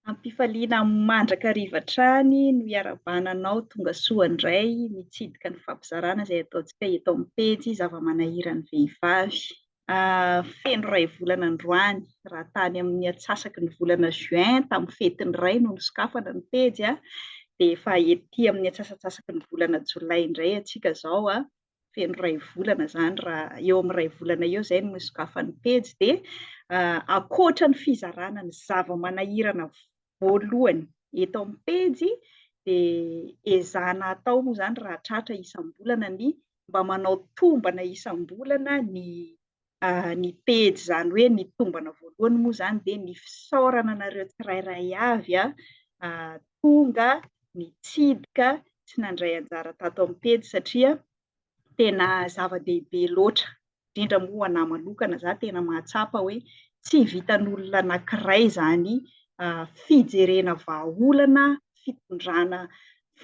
Am-pifaliana mandrakariva hatrany no iarabana anao tongasoa indray mitsidika ny fampizarana izay ataontsika eto amin'ny pejy zava-manahiran'ny vehivavy. Feno iray volana androany, raha tany amin'ny atsasaky ny volana juin tamin'ny fetin'ny ray no nisokafana ny pejy dia efa ety amin'ny atsasatsasaky ny volana jolay indray antsika izao feno iray volana izany raha eo amin'ny iray volana eo izay no isokafan'ny pejy dia ankoatra ny fizarana ny zava-manahirana voalohany eto amin'ny pejy dia ezahana atao moa izany raha tratra isam-bolana ny mba manao tombana isam-bolana ny ny pejy izany hoe ny tombana voalohany moa izany dia ny fisaorana anareo tsirairay avy tonga nitsidika sy nandray anjara tato amin'ny pejy satria tena zava-dehibe loatra, indrindra moa ho anà manokana, izaho tena mahatsapa hoe tsy vitan'olona anankiray izany fijerena vahaolana fitondrana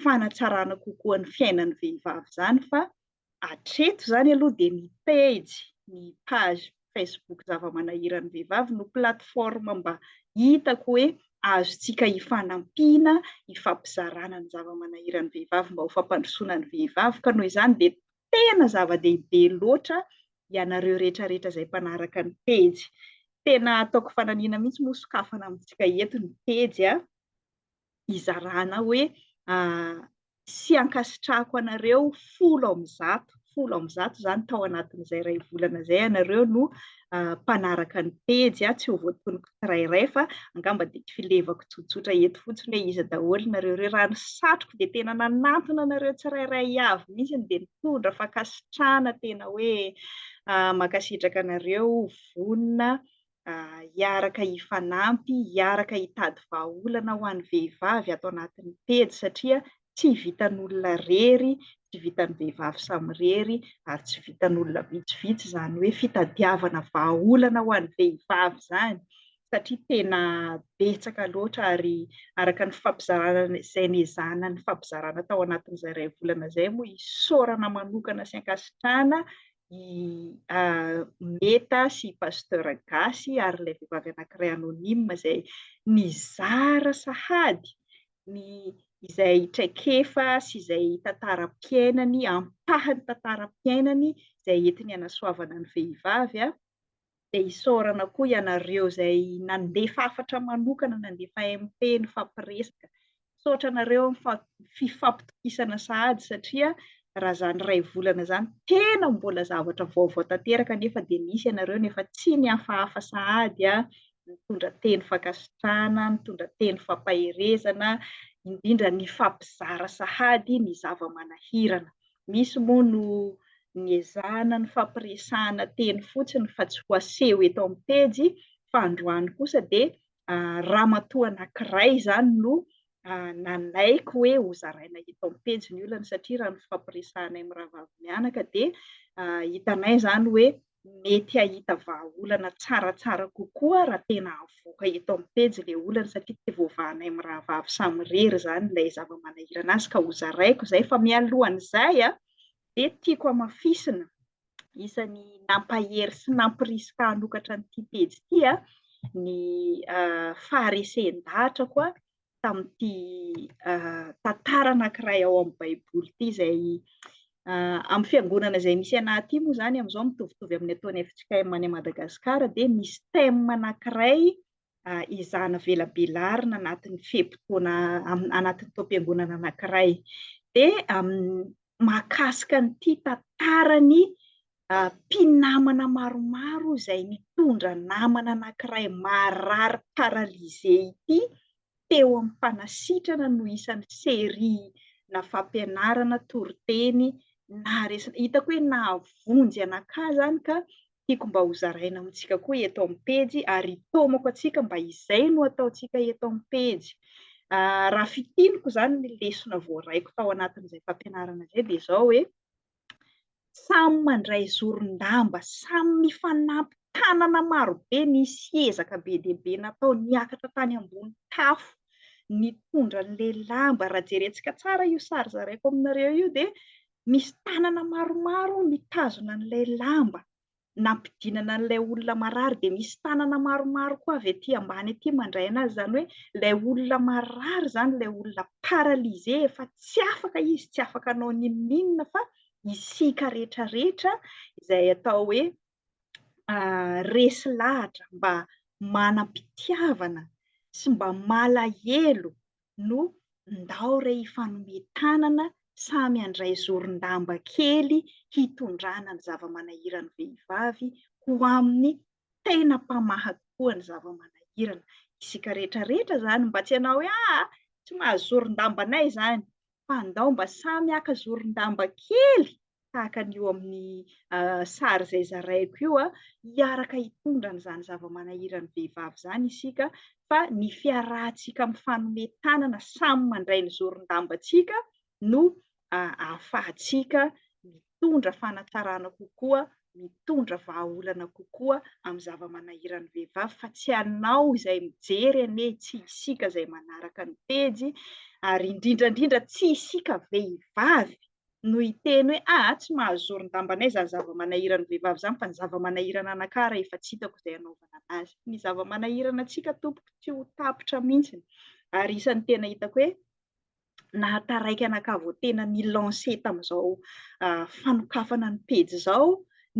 fanatsarana kokoa ny fiainan'ny vehivavy izany fa Hatreto izany aloha dia ny pejy, ny page Facebook Zava-manahiran'ny Vehivavy no plateforme mba hitako hoe azontsika ifanampiana, ifampizarana ny zava-manahiran'ny vehivavy mba ho fampandrosoana ny vehivavy. Ka noho izany dia tena zava-dehibe loatra ianareo rehetrarehetra izay mpanaraka ny pejy. Tena ataoko fananiana mihitsy moa sokafana amintsika eto ny pejy a! hizarana hoe sy ankasitrahako anareo folo amin'ny zato folo amin'ny zato izany tao anatin'izay iray volana izay ianareo no ah, mpanaraka ny pejy ah, tsy ho voatonoko tsirairay fa angamba dia filevako tsotsotra eto fotsiny hoe iza daholo nareo ireo raha ny satroko dia tena nanantona anareo tsirairay avy mihitsy ny dia nitondra fankasitrahana tena hoe ah, mankasitraka anareo vonona hiaraka hifanampy, hiaraka hitady vahaolana ho an'ny vehivavy ato anatin'ny pejy satria tsy vitan'olona irery, tsy vitan'ny vehivavy samirery ary tsy vitan'olona vitsivitsy izany hoe fitadiavana vahaolana ho an'ny vehivavy izany satria tena betsaka loatra ary araka ny fampizarana izay nezahana ny fampizarana tao anatin'izay iray volana izay moa isaorana manokana sy ankasitrahana i Meta sy Pasteur Gasy ary ilay vehivavy anankiray anonyme izay nizara sahady ny izay traikefa sy izay tantaram-piainany, ampahany tantaram-piainany izay entiny hanasoavana ny vehivavy dia isaorana koa ianareo izay nandefa hafatra manokana, nandefa MP, nifampiresaka. Misaotra anareo amin'ny fifampitokisana sahady satria raha izany iray volana izany tena mbola zavatra vaovao tanteraka nefa dia nisy ianareo nefa tsy nihafahafa sahady nitondra teny fankasitrahana, nitondra teny fampaherezana, indrindra nifampizara sahady ny zava-manahirana. Misy moa no niezahana nifampiresahana teny fotsiny fa tsy ho aseho eto amin'ny pejy fa androany kosa dia ramatoa anankiray izany no nanaiky hoe hozaraina eto amin'ny pejy ny olany satria raha ny fifampiresahanay mirahavavi-mianaka dia hitanay izany hoe mety hahita vahaolana tsaratsara kokoa raha tena avoaka eto amin'ny pejy ilay olana satria te voavahanay mirahavavy samirery izany ilay zava-manahirana azy ka hozaraiko izay fa mialohan'izay dia tiako hamafisina isan'ny nampahery sy nampirisika hanokatra an'ity pejy ity ny faharesen-dahatrako tamin'ity tantara anankiray ao amin'ny Baiboly ity izay amin'ny fiangonana izay misy anay aty moa izany amin'izao mitovitovy amin'ny ataon'ny FJKM any Madagasikara dia misy thème anankiray izana velabelarina anatin'ny fe-potoana anatin'ny taom-piangonana anankiray dia mahakasika an'ity tantarany mpinamana maromaro izay mitondra namana anankiray marary paralysé ity teo am-panasitrana no isan'ny serie-na fampianarana toriteny naharesaka. Hitako hoe nahavonjy anakahy izany ka tiako mba hozaraina amintsika koa eto amin'ny pejy ary hitaomako antsika mba izay no ataontsika eto amin'ny pejy. Raha fitiniko izany ny lesona voaraiko tao anatin'izay fampianarana izay dia izao hoe, Samy mandray zoron-damba, samy mifanampy tanana marobe, nisy ezaka be dia be natao, niakatra tany ambony tafo, nitondra an'ilay lamba, raha jerentsika tsara io sary zaraiko aminareo io dia misy tanana maromaro mitazona an'ilay lamba, nampidinana an'ilay olona marary dia misy tanana maromaro koa avy aty ambany aty mandray anazy izany hoe ilay olona marary izany ilay olona paralysé efa tsy afaka izy tsy afaka anao ninoninona fa isika rehetra rehetra izay atao hoe ah, resy lahatra mba manam-pitiavana sy mba malahelo no ndao re hifanome tanana samy handray zoron-damba kely hitondrana ny zava-manahiran'ny vehivavy ho amin'ny tena mpamaha tokoa ny zava-manahirana. Isika rehetra rehetra izany mba tsy hanao hoe aa tsy mahazo zoron-damba anay izany fa ndao mba samy haka zoron-damba kely tahaka ny eo amin'ny sary izay zaraiko io, hiaraka hitondra an'izany zava-manahiran'ny vehivavy izany isika fa ny fiarahantsika mifanome tanana samy mandray ny zoron-dambantsika no ahafahantsika mitondra fanatsarana kokoa, mitondra vahaolana kokoa amin'ny zava-manahiran'ny vehivavy fa tsy ianao izay mijery anie, tsy isika izay manaraka ny pejy ary indrindra indrindra tsy isika vehivavy no hiteny hoe aa tsy mahazoron-dambanay izany zava-manahiran'ny vehivavy izany fa ny zava-manahirana anakahy ary efa tsy hitako izay hanaovana an'azy. Ny zava-manahirana antsika tompoko tsy ho tapitra mihitsy ary isan'ny tena hitako hoe nahataraiky anakahy vao tena ni-lancer tamin'izao fanokafana ny pejy izao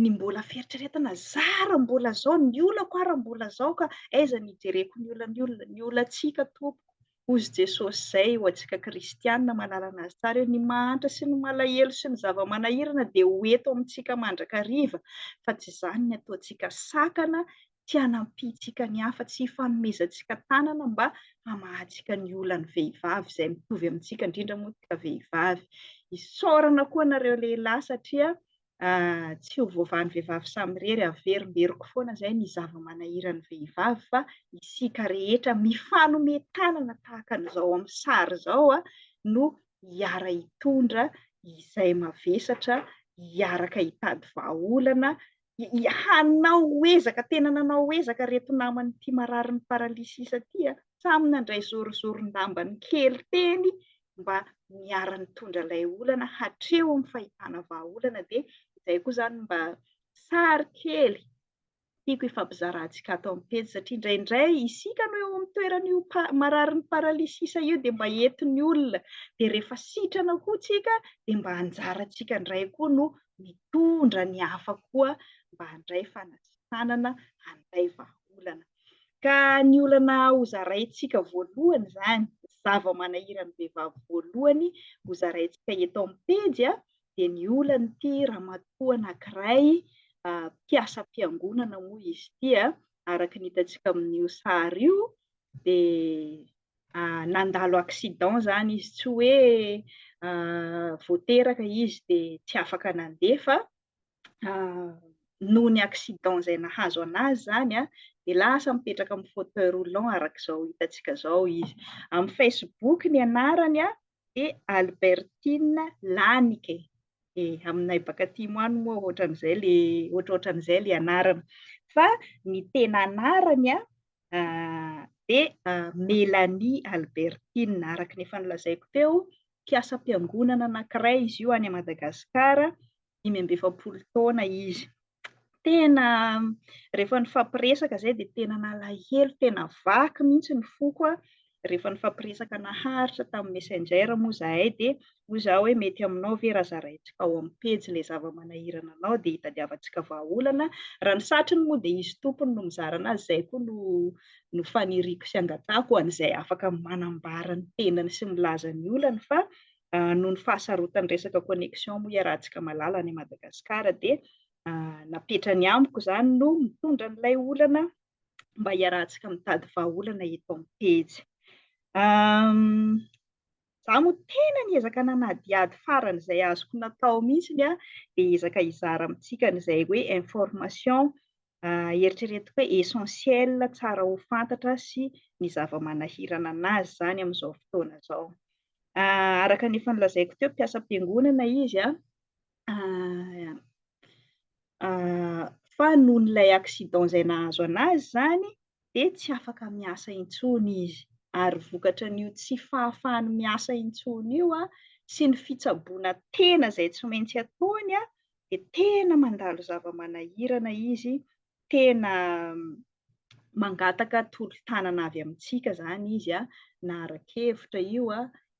ny mbola fieritreretana zara mbola zao ny olako ary mbola zao ka aiza ny ijereko ny olan'ny olona ny olantsika tompoko hozy jesosy zay ho antsika kristianina malalana azy tsara eo ny mahantra sy ny malahelo sy ny zava-manahirana dia ho eto amintsika mandrakariva fa tsy izany ny ataontsika sakana tsy hanampiantsika ny hafa, tsy hifanomezantsika tanana mba hamahantsika ny olan'ny vehivavy izay mitovy amintsika, indrindra moa isika vehivavy. Isaorana koa anareo lehilahy satria tsy ho voavahan'ny vehivavy samirery, averimberiko foana izay ny zava-manahiran'ny vehivavy fa isika rehetra mifanome tanana tahaka an'izao amin'ny sary izao no hiara hitondra izay mavesatra, hiaraka hitady vahaolana hanao ezaka, tena nanao ezaka ireto naman'ity mararin'ny paralysis ity, samy nandray zorozoron-dambany kely teny mba niara-nitondra ilay olana hatreo amin'ny fahitana vahaolana dia izay koa izany mba sary kely tiako hifampizarahantsika ato amin'ny pejy satria indraindray isika no eo amin'ny toeran'io mararin'ny paralysis io dia mba entin'ny olona dia rehefa sitrana koa tsika dia mba anjarantsika indray koa no mitondra ny hafa koa mba handray fanasitranana, handray vahaolana. Ka ny olana hozaraintsika voalohany izany, ny zava-manahiran'ny vehivavy voalohany hozaraintsika eto amin'ny pejy a, dia ny olan'ity ramatoa anankiray mpiasam-piangonana moa izy ity a, araka ny hitantsika amin'io sary io dia ah, nandalo accident zany izy tsy hoe ah, voateraka izy de tsy afaka nandeha fa ah, noho ny accident zay nahazo anazy zany a de lasa mipetraka amin'ny fauteuil roulant arak'izao hitantsika zao izy amin'ny facebook ny anarany a de Albertine Lanike e aminay baka timo any moa ohatran'izay le ohatrohatran'izay le anarana fa ny tena anarany a Dia Mélanie Albertine, araka ny efa nolazaiko teo, mpiasam-piangonana anankiray izy io any Madagasikara, dimy amby efapolo taona izy. Tena rehefa nifampiresaka izay dia tena nalahelo, tena vaky mihitsy ny foko rehefa nifampiresaka naharitra tamin'ny Messenger moa izahay dia hoy izaho hoe mety aminao ve raha zaraintsika ao amin'ny pejy ilay zava-manahirana anao dia hitadiavantsika vahaolana, raha ny satriny moa dia izy tompony no mizara anazy, izay koa no no faniriako sy angatahako ho an'izay afaka manambara ny tenany sy milaza ny olany fa noho ny fahasarotan'ny resaka connexion moa iarahantsika malala any Madagascar dia napetrany amiko izany no mitondra an'ilay olana mba hiarahantsika mitady vahaolana eto amin'ny pejy. Izaho moa tena niezaka nanadihady faran'izay azoko natao mihitsy dia hiezaka hizara amintsika an'izay hoe information eritreretiko hoe essentiel tsara ho fantatra sy ny zava-manahirana anazy izany amin'izao fotoana izao. Araka ny efa nolazaiko teo, mpiasa am-piangonana izy, fa noho ilay accident izay nahazo anazy izany dia tsy afaka miasa intsony izy ary vokatra an'io tsy fahafahany miasa intsony io sy ny fitsaboana tena izay tsy maintsy ataony dia tena mandalo zava-manahirana izy tena mangataka tolo-tanana avy amintsika izany izy, na ara-kevitra io,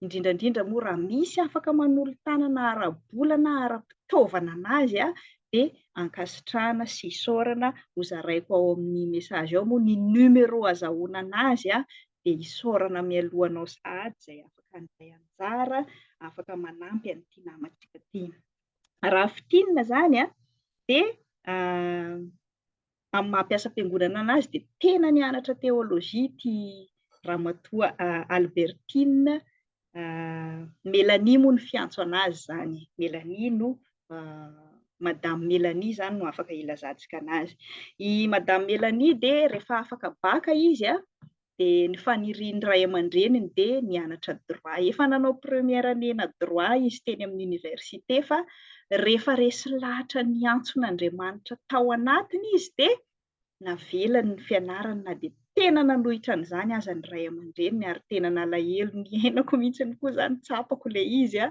indrindra indrindra moa raha misy afaka manolo-tanana ara-bola na ara-pitaovana an'azy dia ankasitrahana sy isaorana, hozaraiko ao amin'ny message ao moa ny numero azahoana an'azy dia isaorana mialoha anao sahady izay afaka handray anjara, afaka manampy an'ity namantsika ity. raha fintinina izany a, dia amin'ny maha mpiasa am-piangonana anazy dia tena nianatra teolojia ity ramatoa Albertine Mélanie moa no fiantso anazy izany, Mélanie no Madame Mélanie izany no afaka ilazantsika anazy. I Madame Mélanie dia rehefa afaka baka izy a, dia ny fanirian'ny ray aman-dreniny dia ny hanatra droit. Efa nanao première année na droit izy teny amin'ny université fa rehefa resy lahatra ny antson'Andriamanitra tao anatiny izy dia navelany ny fianarany na dia tena nanohitra an'izany aza ny ray aman-dreniny ary tena nalahelo niainako mihitsy koa izany tsapako ilay izy a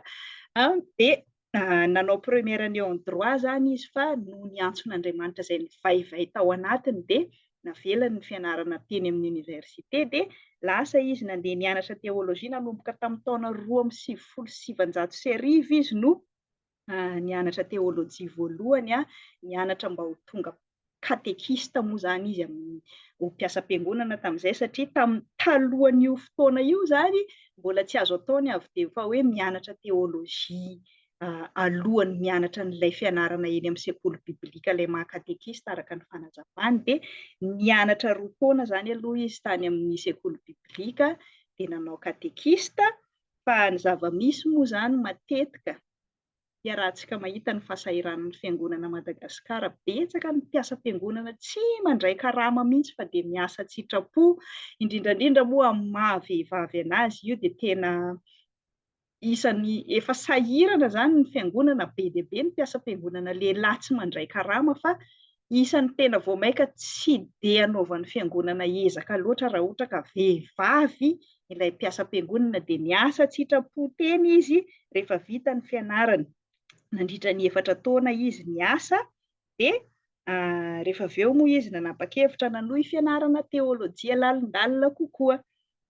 dia nanao première année en droit zany izy fa noho ny antson'Andriamanitra izay nivaivay tao anatiny dia navelany ny fianarana teny amin'ny oniversite dia lasa izy nandeha nianatra teologia nanomboka tamin'ny taona roa amby sivifolo sy sivanjato sy arivo izy no nianatra teolojia voalohany nianatra mba ho tonga katekista moa izany izy amin'ny ho mpiasam-piangonana tamin'izay, satria tamin'ny talohan'io fotoana io izany mbola tsy azo atao ny avy dia fa hoe mianatra teolojia alohan'ny mianatra an'ilay fianarana eny amin'ny sekoly biblika ilay maha katekista araka ny fanazavany, dia nianatra roa taona izany aloha izy tany amin'ny sekoly biblika dia nanao katekista, fa ny zava-misy moa izany matetika Iarahantsika mahita ny fahasahiranan'ny Fiangonana Madagascar. Betsaka ny mpiasam-piangonana tsy mandray karama mihitsy fa dia miasa an-tsitrapo. Indrindra indrindra moa amin'ny maha vehivavy an'azy io dia tena isan'ny efa sahirana izany ny Fiangonana. Be dia be ny mpiasam-piangonana lehilahy tsy mandray karama fa isan'ny tena vao mainka tsy dia anaovan'ny fiangonana ezaka loatra raha ohatra ka vehivavy ilay mpiasam-piangonana dia miasa tsy hitrapo teny izy rehefa vita ny fianarany nandritra ny efatra taona izy niasa dia ah, rehefa avy eo moa izy nanapa-kevitra nanohy fianarana teolojia lalindalina kokoa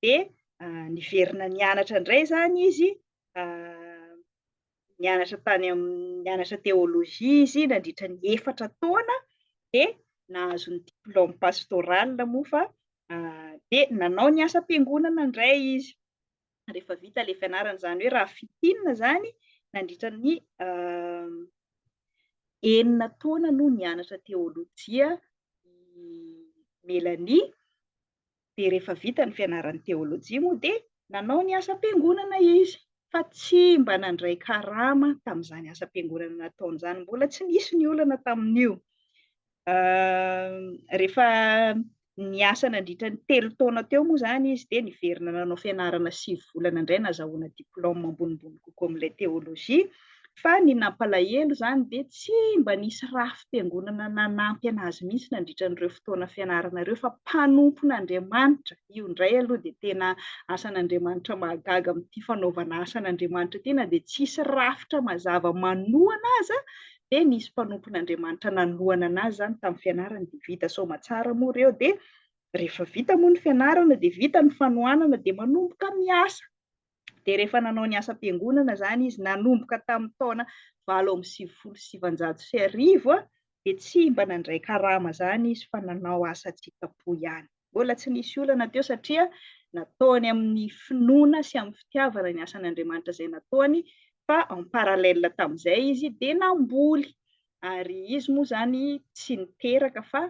dia ah, niverina nianatra indray izany izy ah, nianatra tany amin'ny nianatra théologie izy nandritra ny efatra taona dia nahazo ny diplôme pastoral moa fa dia nanao ny asam-piangonana indray izy rehefa vita ilay fianarana izany hoe raha fitinina izany nandritra ny enina taona no nianatra teolojia i Melanie dia rehefa vita ny fianarany teolojia moa dia nanao ny asam-piangonana izy fa tsy mba nandray karama tamin'izany asam-piangonana nataony izany, mbola tsy nisy ny olana tamin'io. Rehefa niasa nandritra ny telo taona teo moa izany izy dia niverina nanao fianarana sivy volana indray nazahoana diplaoma ambonimbony kokoa amin'ilay teolojia. Fa ny nampalahelo izany dia tsy mba nisy rafi-piangonana nanampy an'azy mihitsy nandritra an'ireo fotoana fianarana ireo fa mpanompon'Andriamanitra, io indray aloha dia tena asan'Andriamanitra mahagaga amin'ity fanaovana asan'Andriamanitra ity na dia tsisy rafitra mazava manohana aza dia nisy mpanompon'Andriamanitra nanohana an'azy izany tamin'ny fianarany dia vita soamatsara moa ireo dia rehefa vita moa ny fianarana dia vita ny fanohanana dia manomboka miasa. dia rehefa nanao ny asam-piangonana izany izy nanomboka tamin'ny taona valo amby sivifolo sy sivanjato sy arivo dia tsy mba nandray karama izany izy fa nanao asa tsitrapo ihany. Mbola tsy nisy olana teo satria nataony amin'ny finoana sy amin'ny fitiavana ny asan'Andriamanitra izay nataony fa en parallèle tamin'izay izy dia namboly ary izy moa izany tsy niteraka fa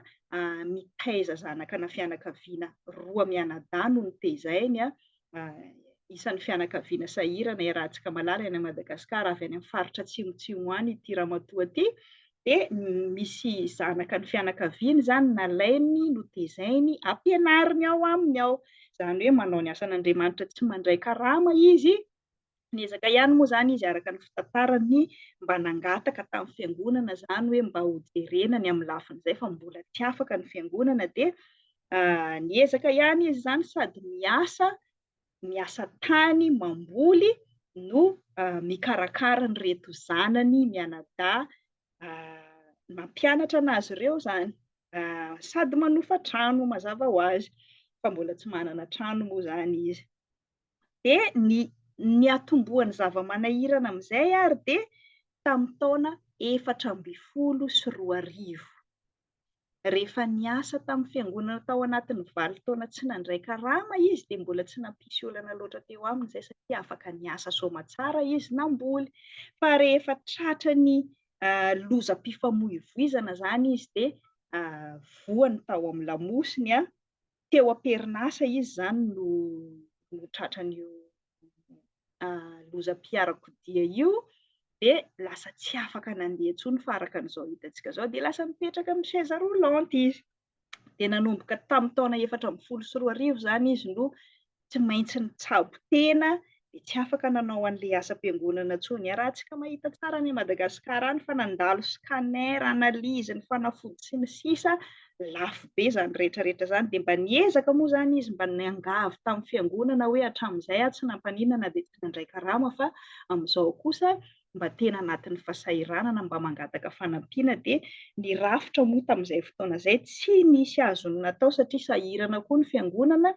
mitaiza zanaka ana fianakaviana roa mianadahy no nitezainy, isan'ny fianakaviana sahirana ery Ratsikamalala eny Madagascar avy any amin'ny faritra atsimotsimo any ity ramatoa ity dia misy zanaka ny fianakaviany izany nalainy notezainy ampianariny ao aminy ao, izany hoe manao ny asan'Andriamanitra tsy mandray karama izy Niezaka ihany moa izany izy araka ny fitantarany mba nangataka tamin'ny fiangonana izany hoe mba hojerena ny amin'ny lafin'izay fa mbola tsy afaka ny fiangonana dia niezaka ihany izy izany sady miasa miasa tany mamboly no mikarakara ny reto zanany mianadahy mampianatra anazy ireo izany sady manofa trano mazava ho azy fa mbola tsy manana trano moa izany izy Dia ny niatombohan'ny zava-manahirana amin'izay ary dia tamin'ny taona efatra ambin'ny folo sy roa arivo, rehefa niasa tamin'ny fiangonana tao anatin'ny valo taona tsy nandray karama izy, dia mbola tsy nampisy olana loatra teo aminy izay satria afaka niasa soamantsara izy namboly. Fa rehefa tratran'ny lozam-pifamoivoizana izany izy dia voany tao amin'ny lamosiny, teo am-perinasa izy izany no no tratran'io lozam-piarakodia io dia lasa tsy afaka nandeha intsony fa araka an'izao hitantsika izao dia lasa mipetraka amin'ny chaise roulante izy. Dia nanomboka tamin'ny taona efatra ambin'ny folo sy roa arivo izany izy no tsy maintsy nitsabo tena dia tsy afaka nanao an'ilay asam-piangonana intsony. Iarahantsika mahita tsara any Madagascar any fa nandalo scanner, analyse ny fanafody sy ny sisa, lafo be izany rehetra rehetra izany. Dia mba niezaka moa izany izy mba niangavy tamin'ny fiangonana hoe hatramin'izay aho tsy nampaninona na dia tsy nandray karama fa amin'izao kosa mba tena anatin'ny fasahiranana mba mangataka fanampiana dia ny rafitra moa tamin'izay fotoana izay tsy nisy azony natao satria sahirana koa ny fiangonana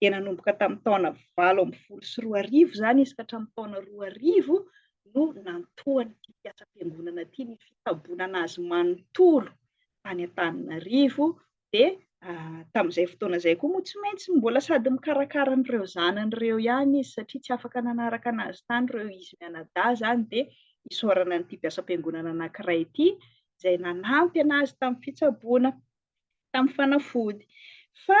dia nanomboka tamin'ny taona valo ambin'ny folo sy roa arivo izany izy ka hatramin'ny taona roa arivo no nantohan'ity mpiasam-piangonana ity ny fitsabonana azy manontolo tany Antananarivo dia tamin'izay fotoana izay koa moa tsy maintsy mbola sady mikarakara an'ireo zanany ireo ihany izy satria tsy afaka nanaraka anazy tany ireo izy mianadahy izany dia isaorana an'ity mpiasam-piangonana anankiray ity izay nanampy anazy tamin'ny fitsaboana tamin'ny fanafody fa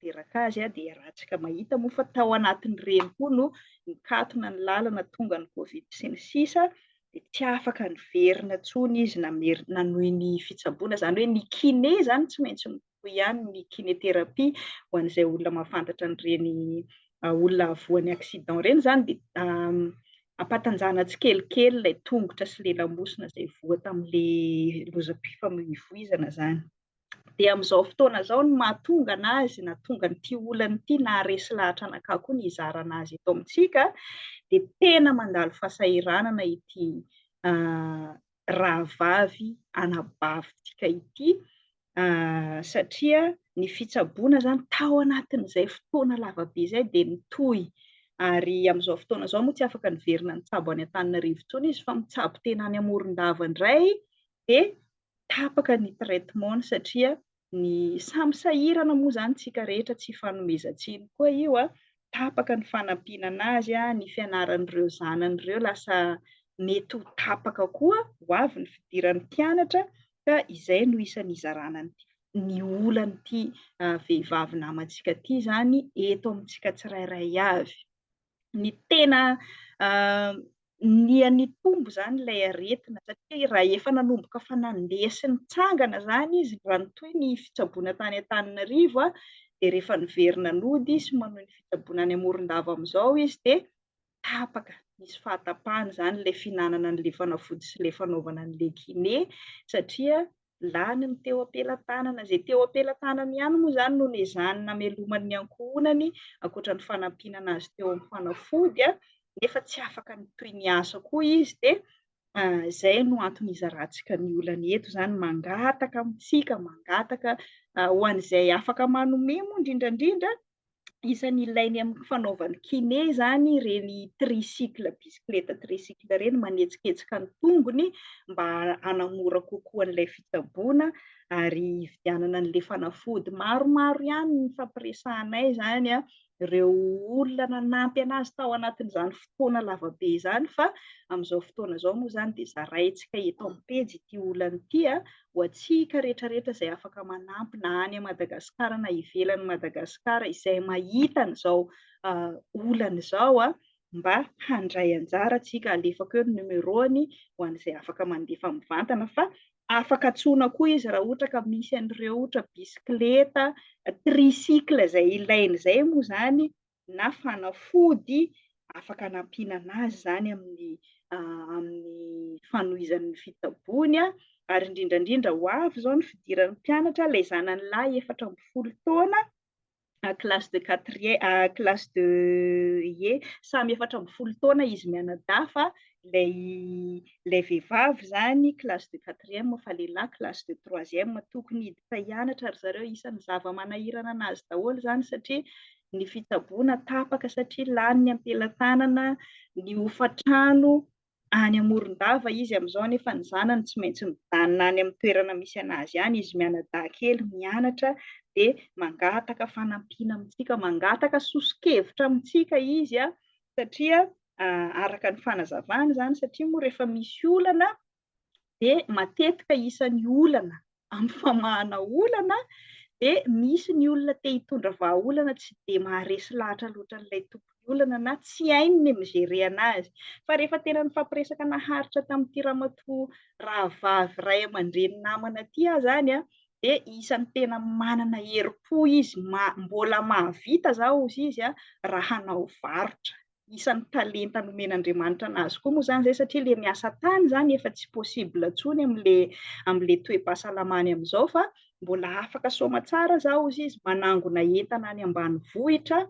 teraka azy dia ratsika mahita moa fa tao anatin'ireny koa no nikatona ny lalana tonga ny covid sy ny sisa dia tsy afaka niverina tsony izy namery nanohy ny fitsaboana izany hoe ny kiné izany tsy maintsy mitohy ihany ny kinéthérapie ho an'izay olona mahafantatra an'ireny olona avoan'ny accident ireny izany dia ampatanjana tsikelikely ilay tongotra sy lelamosina izay voa tamin'ilay lozam-pifamoivoizana izany dia amin'izao fotoana izao ny mahatonga anazy na tonga an'ity olana ity na resy lahatra anakah koa ny hizarana azy eto amintsika dia tena mandalo fahasahiranana ity rahavavy anabavintsika ity satria ny fitsaboana izany tao anatin'izay fotoana lavabe izay dia mitoy ary amin'izao fotoana izao moa tsy afaka niverina nitsabo any an-tanina rivotsony izy fa mitsabo tena any amoron-dava indray dia tapaka ny traitement-ny satria ny samy sahirana moa izany isika rehetra, tsy ifanomezan-tsiny koa io, tapaka ny fanampiana an'azy, ny fianaran'ireo zanany ireo lasa mety ho tapaka koa ho avy ny fidiran'ny mpianatra ka izay no isan'ny hizarana ny ny olan'ity vehivavy namantsika ity izany eto amintsika tsirairay avy. ny tena niha nitombo izany ilay aretina satria raha efa nanomboka fa nandeha sy nitsangana izany izy raha ny toy ny fitsaboana tany Antananarivo a, dia rehefa niverina nody sy manohy ny fitsaboana any Morondava amin'izao izy dia tapaka, nisy fahatapahana izany ilay fihinanana an'ilay fanafody sy ilay fanaovana an'ilay kiné satria lany ny teo am-pelatanana. Izay teo am-pelatanany ihany moa izany no nezahany namelomany ny ankohonany, ankoatra ny fanampinana azy teo amin'ny fanafody, nefa tsy afaka ny toy ny asa koa izy, dia izay no antony izarantsika ny olany eto izany, mangataka amintsika, mangataka ho an'izay afaka manome moa indrindrandrindra, isan'ny ilainy amin'ny fanaovany kiné izany ireny tricycle bisikileta tricycle ireny manetsiketsika ny tongony mba hanamora kokoa an'ilay fitsaboana ary hividianana an'ilay fanafody maromaro ihany ny fampiresahanay izany a, ireo olona nanampy anazy tao anatin'izany fotoana lavabe izany fa amin'izao fotoana izao moa izany dia zaraintsika eto amin'ny pejy ity olana ity a, ho antsika retraretra izay afaka manampy na any Madagascar na ivelany Madagascar izay mahita an'izao olana izao a, mba handray anjara tsika, alefako eo ny numéro-ny ho an'izay afaka mandefa mivantana fa afaka antsoina koa izy raha ohatra ka misy an'ireo ohatra bisikileta, tricycle izay ilaina izay moa izany na fanafody afaka anampiana anazy izany amin'ny amin'ny fanohizany ny fitsaboany a, ary indrindra indrindra ho avy izao ny fidiran'ny mpianatra, ilay zanany lahy efatra ambin'ny folo taona a classe de quatrième a classe de ie, samy efatra ambin'ny folo taona izy mianadahy fa ilay ilay vehivavy izany classe de quatrième fa lehilahy classe de troisième, tokony hiditra hianatra ry zareo, isan'ny zava-manahirana anazy daholo izany satria ny fitsaboana tapaka satria lany ny ampelatanana, ny hofantrano any Amorondava izy amin'izao nefa ny zanany tsy maintsy mijanona any amin'ny toerana misy an'azy any, izy mianadahy kely mianatra dia mangataka fanampiana amintsika, mangataka soso-kevitra amintsika izy satria araka ny fanazavany izany satria moa rehefa misy olana dia matetika isan'ny olana amin'ny famahana olana dia misy ny olona te hitondra vahaolana tsy dia maharesy lahatra loatra an'ilay tompon'ny olana na tsy hainy ny mi-gérer anazy. Fa rehefa tena nifampiresaka naharitra tamin'ity ramatoa rahavavy ray aman-dreny namana ity aho izany an, dia isan'ny tena manana herim-po izy, mbola mahavita izao hozy izy raha hanao varotra. isan'ny talenta nomen'Andriamanitra anazy koa moa izany izay satria ilay miasa tany izany efa tsy possible intsony amin'ilay amin'ilay toe-pahasalamany amin'izao fa mbola afaka soamatsara izao hozy izy, manangona entana any ambanivohitra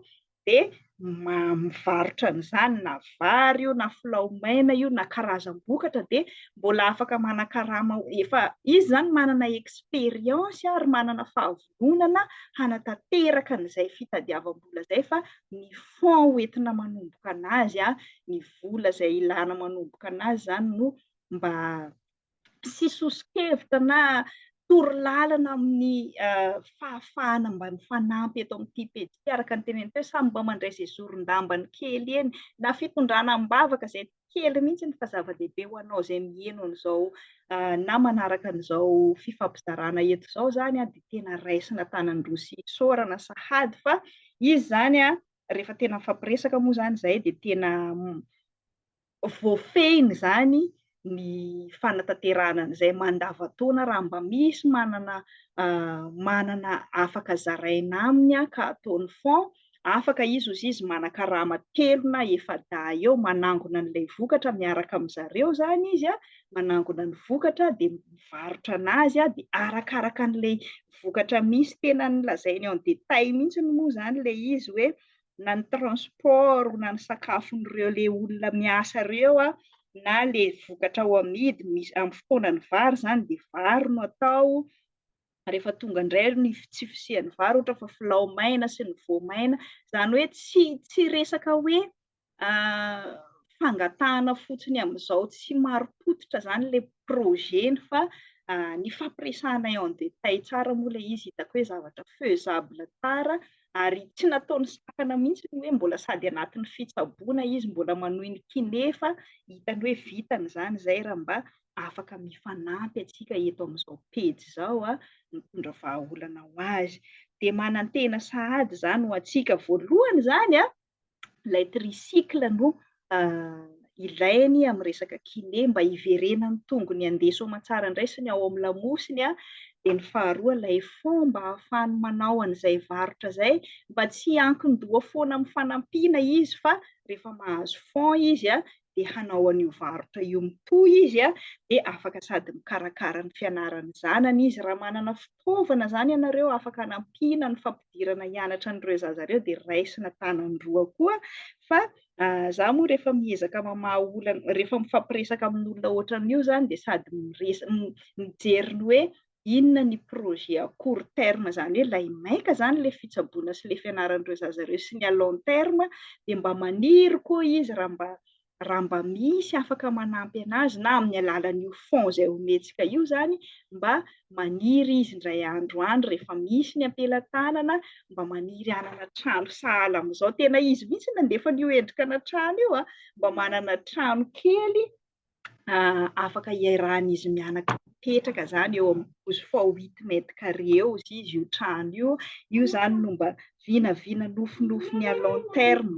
dia mivarotra an'izany na vary io na filao maina io na karazam-bokatra dia mbola afaka manan-karama, efa izy izany manana expérience ary manana fahav fiangonana hanatanteraka an'izay fitadiavam-bola izay fa ny fonds hoentina manomboka an'azy, ny vola izay ilana manomboka an'azy izany no mba sy soso-kevitra na torolalana amin'ny fahafahana mba mifanampy eto amin'ity pejy ity araka ny teneniny teo samy mba mandray izay zoron-dambany kely eny na fitondrana am-bavaka izay kely mihitsy ny fa zava-dehibe ho anao izay miheno an'izao na manaraka an'izao fifampizarana eto izao izany dia tena raisina tanan-droa sy isaorana sahady fa izy izany rehefa tena mifampiresaka moa izany izay dia tena voafehiny izany ny fanatanterahana an'izay mandavataona raha mba misy manana manana afaka zaraina aminy ka ataony fond Afaka izy ozy izy manakarama telo na efa-dahy eo manangona an'ilay vokatra miaraka amin'zareo izany izy a, manangona ny vokatra dia mivarotra an'azy a, dia arakaraka an'ilay vokatra misy tena lazainy en détail mihintsy moa izany ilay izy hoe na ny transport na ny sakafon'ireo ilay olona miasa ireo a, na ilay vokatra ao amidy, misy amin'ny fotoanan'ny vary izany dia vary no atao, rehefa tonga indray ny tsy fisian'ny vary ohatra fa filao maina sy ny voamaina, izany hoe tsy tsy resaka hoe fangatahana fotsiny amin'izao tsy marim-pototra izany ilay projet-ny fa ny fampiresahanay en détail tsara moa ilay izy hitako hoe zavatra faisable tsara ary tsy nataony sakana mihitsy ny hoe mbola sady anatin'ny fitsaboana izy mbola manohy ny kiné fa hitany hoe vitany izany izay raha mba afaka mifanampy antsika eto amin'izao pejy izao a, mitondra vahaolana ho azy. Dia manantena sahady izany ho antsika. Voalohany izany a, ilay tricycle no ilainy amin'ny resaka kiné mba hiverenan'ny tongony handeha soamatsaran-draisiny ao amin'ny lamosiny a, dia ny faharoa ilay fomba ahafahany manao an'izay varotra izay mba tsy hiankin-doha foana amin'ny fanampiana izy fa rehefa mahazo fonds izy a, dia hanao an'io varotra io mitohy izy a, dia afaka sady mikarakara ny fianaran'ny zanany izy. Raha manana fitaovana izany ianareo afaka hanampiana ny fampidirana hianatra an'ireo zaza ireo dia raisina tanany roa koa fa za moa rehefa miezaka mamaha olana, rehefa mifampiresaka amin'olona ohatran'io izany dia sady mijery ny hoe inona ny projet à court terme izany hoe ilay maika izany ilay fitsaboana sy ilay fianaran'ireo zaza ireo sy ny à long terme dia mba maniry koa izy raha mba raha mba misy afaka manampy an'azy na amin'ny alalan'io fonds izay homentsika io izany mba maniry izy indray andro any rehefa misy ny ampelatanana mba maniry hanana trano sahala amin'izao tena izy mihitsy nandefa an'io endrika na trano io a mba manana trano kely afaka hiarahan'izy mianaka mipetraka izany eo amin'ny douze fois huit mètres carrés eo izy izy io trano io, io izany no mba vinavina nofinofiny à long terme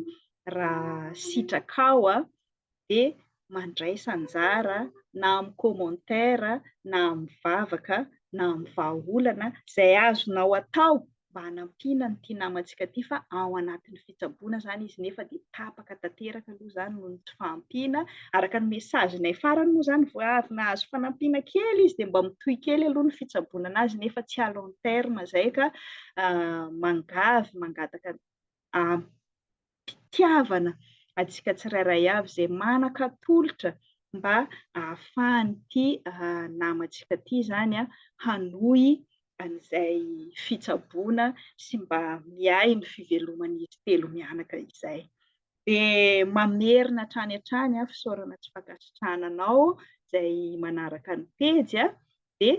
raha sitrakao dia mandraisa anjara na amin'ny commentaire na amin'ny vavaka na amin'ny vahaolana izay azonao atao mba hanampiana an'ity namantsika ity fa ao anatin'ny fitsaboana izany izy nefa dia tapaka tanteraka aloha izany noho ny tsy fahampiana. Araka ny message-nay farany moa izany vao avy nahazo fanampiana kely izy dia mba mitohy kely aloha ny fitsaboana anazy nefa tsy à long terme izay ka mangavy mangataka ampy. fitiavana antsika tsirairay avy izay manan-katolotra mba ahafahan'ity namantsika ity izany hanohy an'izay fitsaboana sy mba miahy ny fiveloman'izy telo mianaka izay. Dia mamerina hatrany hatrany fisaorana sy fankasitrahana anao izay manaraka ny pejy dia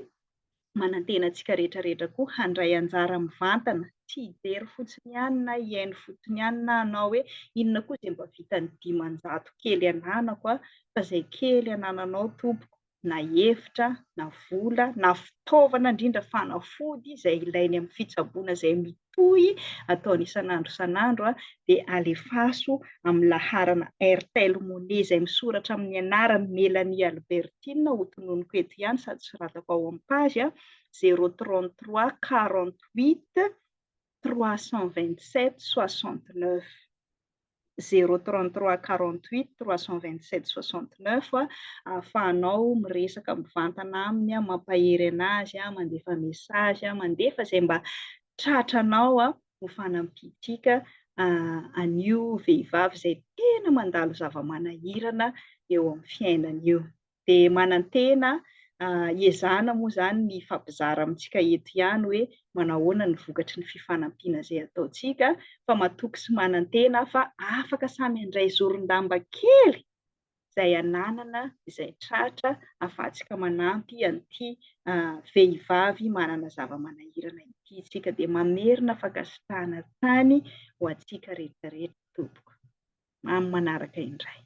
manantena antsika rehetra rehetra koa handray anjara mivantana, tsy hijery fotsiny ihany na hihaino fotsiny ihany na hanao hoe inona koa izay mba vitan'ny dimanjato kely ananako an, fa izay kely anananao tompoko na hevitra na vola na fitaovana indrindra fanafody izay ilainy amin'ny fitsaboana izay mitohy ataony isan'andro isan'andro dia alefaso amin'ny laharana Airtel Money izay misoratra amin'ny anaran'i Mélanie Albertine ho tononiko eto ihany sady soratako ao amin'ny page, zéro trente trois quarante huit trois cent vingt sept soixante neuf. zéro trente trois quarante huit trois cent vingt sept soixante neuf ahafahanao miresaka mivantana aminy a mampahery anazy a mandefa message a mandefa izay mba tratranao a ho fanampiantsika an'io vehivavy izay tena mandalo zava-manahirana eo amin'ny fiainana io. dia manantena hiezahana moa izany ny hifampizara amintsika eto ihany hoe manao ahoana ny vokatry ny fifanampiana izay ataontsika fa matoky sy manantena aho fa afaka samy handray zoron-damba kely izay ananana izay tratra afahantsika manampy an'ity vehivavy manana zava-manahirana ity isika dia mamerina fankasitrahana tany ho antsika rehetrarehetra tompoko amin'ny manaraka indray